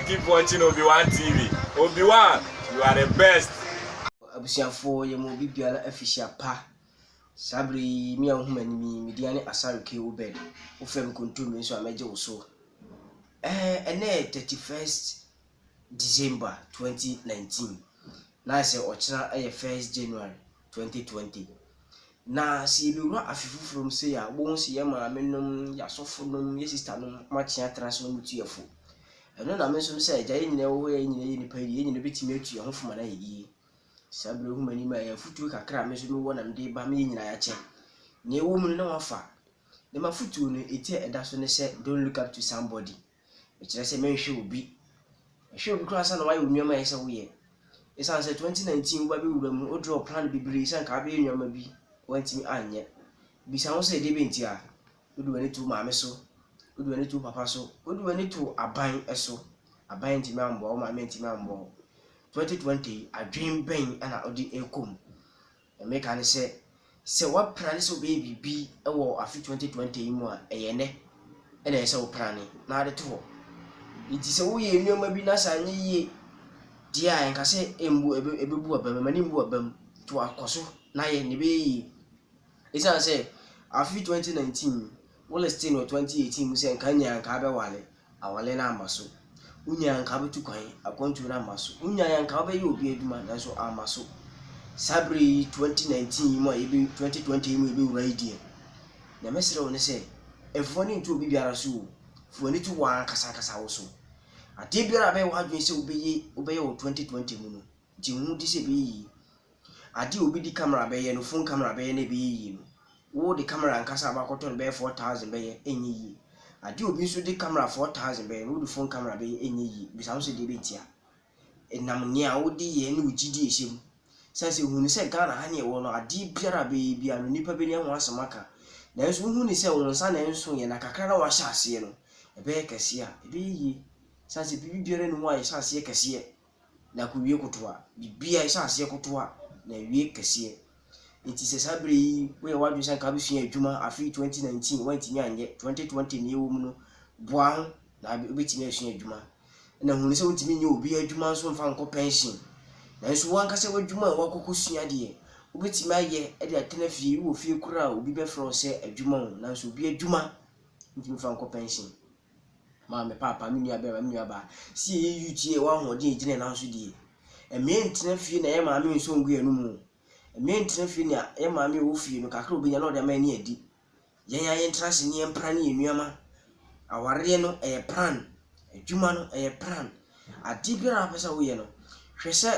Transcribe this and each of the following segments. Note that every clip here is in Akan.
Keep watching Obi One TV Obi One you are the best. Abusuafoɔ yɛ ma obi biara afihyia pa saa berɛ yi me a wohu m'anim yi me din ane Asare K. Obed wofrɛ me kontomire nso a mɛgye wo so ɛɛ ɛnɛ yɛ 31st December 2019 na ayɛ sɛ ɔkyena yɛ 1st January 2020. Na sɛ yɛbɛwura afe foforɔ mu sei a, wobɛhu sɛ yɛn maame nom, yɛn asɔfo nom, yɛn sista nom, wɔn akyea atena ase wɔn tu yɛn fo. Ɛno na me nso sɛ agya yɛn nyinaa wɔ hɔ yɛn nyinaa yɛ nipa yie, yɛn nyinaa bɛtumi atu yɛn ho fo ma no ayɛ yie. Saa berɛ hu m'anim a ɛyɛ afutuo kakra a me nso mewɔ na mede ba me yɛn nyinaa yɛakyɛ. Nea ɛwɔ mu no na wafa. Ne m'afutuo no, ɛti a ɛda so ne sɛ don't look up to somebody. Ɛkyerɛ sɛ mɛnhwɛ obi. Ɛhwɛ obi koraa ansa na wayɛ wo nneɛma a ɛsɛ sɛ woyɛ. Ɛsiane sɛ 2019 wo ba bɛwura mu, wo draw plan bebree sɛ anka wobɛyɛ nneɛma bi, woantumi anyɛ. Bisa ho sɛ, deɛbɛn nti a? Wode w'ani to wo maame so? Wode w'ani to wo papa so? Wode w'ani to aban so? Aban antumi ammoa wo, wo maame antumi ammoa wo. 2020 yi, adwene bɛn na wode rekɔ mu? Meka no sɛ, sɛ woaprane sɛ wobɛyɛ biribi wɔ afe 2020 yi mu a, ɛyɛ ɛnnɛ na ɛyɛ sɛ woprane na wode to hɔ. Enti sɛ woyɛ nneɛma bi na sɛ anyɛ yie deɛ a, ɛnka sɛ ɛmbu ɛbɛ ɛbɛbu w'abam, ɛma no mmu w'abam. Nti wa kɔ so na yɛ nea ɛbɛyɛ yie. Ɛsiane sɛ afe 2019 wo listee no wɔ 2018 mu sɛ nka nyaa nka abɛwale. Awɔle no amma so. Wo nyaa nka wobɛtu kwan, akwantuo no amma so. Wo nyaa nka wobɛyɛ obi adwuma, nanso amma so. Saa berɛ yi, 2019 yi mu a yɛbɛ, 2020 yi mu yɛbɛwura yi deɛ, na mɛsrɛ wo ne sɛ, mfa w'ani nto obi biara so o. Fa w'ani to wo ankasa ankasa wo so. Adeɛ biara a ɛbɛyɛ w'adwene sɛ wobɛyɛ, wobɛyɛ wɔ 2020 mu no, gye wo ho di sɛ ɛbɛyɛ yie. Ade a obi de camera bɛyɛ no, phone camera bɛyɛ na ɛbɛyɛ yie no, wo de camera ankasa a wobɛakɔtɔ no bɛyɛ four thousand bɛyɛ ɛnyɛ yie. Ade a obi nso de camera four thousand bɛyɛ no, wo de phone camera bɛyɛ ɛnyɛ yie. Bisa wo ho sɛ deɛ ɛbɛ ntia? Ɛnam nea wo de yɛ ne wo gyidie a ɛhyɛ mu. Sane sɛ hunu sɛ Ghana ha ne yɛwɔ no, adeɛ biara a bɛyɛ biara no, nnipa bɛnya ho asɛm aka. Nanso wo hunu sɛ wo nsa na ɛnso yɛ na kakra na wahyɛ aseɛ no, ɛbɛyɛ kɛseɛ a, ɛbɛyɛ yie. Sane sɛ biribi biara nni hɔ a yɛhyɛ aseɛ kɛseɛ. na akowie kotoa. Biribiara, ɛhyɛ aseɛ kotoa na ɛwie kɛseɛ. Nti sɛ saa berɛ yi woyɛ w'adwene sɛ anka wobɛsua adwuma afe 2019 woantumi anyɛ, 2020 na yɛwɔ mu no, boa ho na wobɛtumi asua adwuma. Na hunu sɛ wontumi nyɛ obi adwuma nso mfa nkɔ pɛnhyen. Nanso w'ankasa w'adwuma a woakɔkɔsua deɛ, wobɛtumi ayɛ de atena fie. Wowɔ fie koraa a, obi bɛfrɛ wo sɛ adwuma o, nanso obi adwuma wontumi mfa nkɔ pɛnhyen. Ma me paapa, me nua barima, me nua baa, si yɛ yɛ youth yɛ wɔ ahoɔden a gyina yɛ nan so die. Ɛmɛ ntena fie na yɛ maame nso ngu yɛ no mu. Ɛmɛ ntena fie na yɛ maame wɔ fie no kakra obi nya na ɔde ama yɛ ne adi. Yɛn ya yɛn tena ase ne yɛn pra ne yɛ nuama. Awareɛ no ɛyɛ plan, adwuma no ɛyɛ plan. Adeɛ biara a wopɛ sɛ woyɛ no, hwɛ sɛ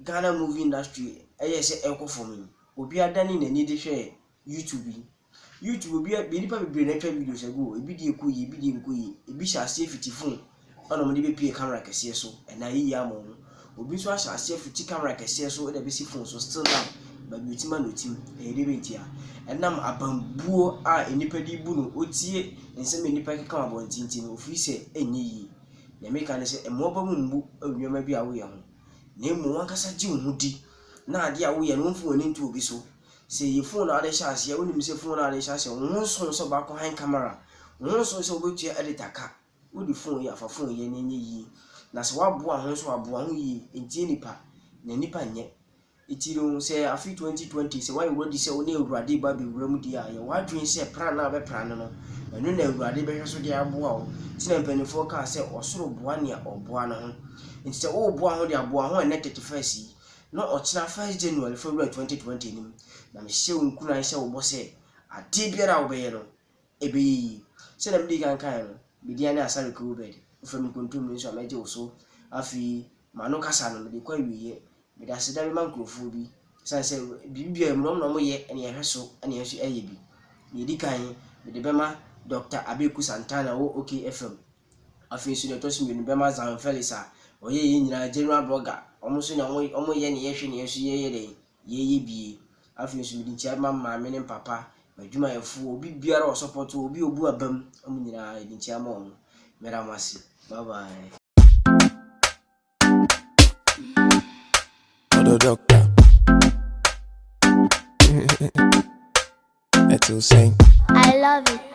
Ghana movie industry ɛyɛ sɛ ɛkɔ fam yi, obi adane n'ani de hwɛ YouTube yi. YouTube obi a nnipa bebree na atwa videos agu hɔ. Ebi deɛ ɛkɔ yie, ebi deɛ ɛnkɔ yie. Ebi hyɛ aseɛ fiti phone ɛna wɔde bɛpue camera kɛseɛ so ɛnna ayɛ yie ama wɔn. Obi nso ahyɛ aseɛ fiti camera kɛseɛ so ɛna ɛbɛsi phone so still now baabi otim a na otim. Ɛyɛ deɛ bɛn ntia? Ɛnam abambuo a nnipa de bu no otie nsɛm a nnipa keka wɔ abɔnten ti no ofiri sɛ ɛnyɛ yie. Nea meka ne sɛ mmoaba mu mmu nneɛma bi a woyɛ ho na mmom wankasa gye wo ho di na adeɛ a woyɛ no womfa w'ani nto obi so. Sɛ yɛ fon na wode hyɛ aseɛ a, wonim sɛ fon na wode hyɛ aseɛ, wo ho nso sɛ wobɛakɔ high camera, wo ho nso sɛ wobɛtua editor ka, wode fon yɛ afa fon yɛ na ɛnyɛ yie, na sɛ woaboa ho nso aboa ho yie, ntie nipa, na nipa nyɛ. Nti no sɛ afe 2020 sɛ woayɛ wadi sɛ wo ne Awurade ba bɛwura mu deɛ a, yɛ w'adwene sɛ pra no a wobɛpra no no, ɛno na Awurade bɛhwɛ so de aboa wo. Nti na mpanimfoɔ kaa sɛ ɔsoro boa nea ɔboa no ho. Nti sɛ woreboa ho deɛ aboa ho ɛnnɛ 31st yi, na ɔkyena first January, February twenty twenty anim, na mehyɛ wo nkuran hyɛ wo bɔ sɛ adeɛ biara a wobɛyɛ no, ɛbɛyɛ yie. Sɛdeɛ mede kan kaeɛ no, me din ne Asare Kewobed, wofrɛ me nkontomire nso a mɛgye wo so. Afei, m'ano kasa no, mede kɔ awieeɛ. Mede aseda bɛma nkurɔfoɔ bi, ɛsiane sɛ biribi biara mu no, wɔn na wɔyɛ na yɛhwɛ so na yɛn nso yɛyɛ bi. Deɛ ɛdi kan, mede bɛma Dɔkta Abeku Santana a ɔwɔ OK FM. Afei so deɛ ɛtɔ so mmienu bɛma Zhao Felix a ɔyɛ yɛn nyinaa general blogger, wɔn nso na wɔn wɔn yɛ ne yɛhwɛ ne yɛn nso yɛyɛ dɛ yɛyɛ bie. Afei nso mede nkyia bɛma me maame ne me papa, m'adwumayɛfoɔ, obi biara a ɔsɔpɔto wɔ, obi a obu abam, wɔn nyinaa yɛde nkyia ma wɔn. Mɛda mo ase. Bye bye. Odo doctor. That's insane. I love it.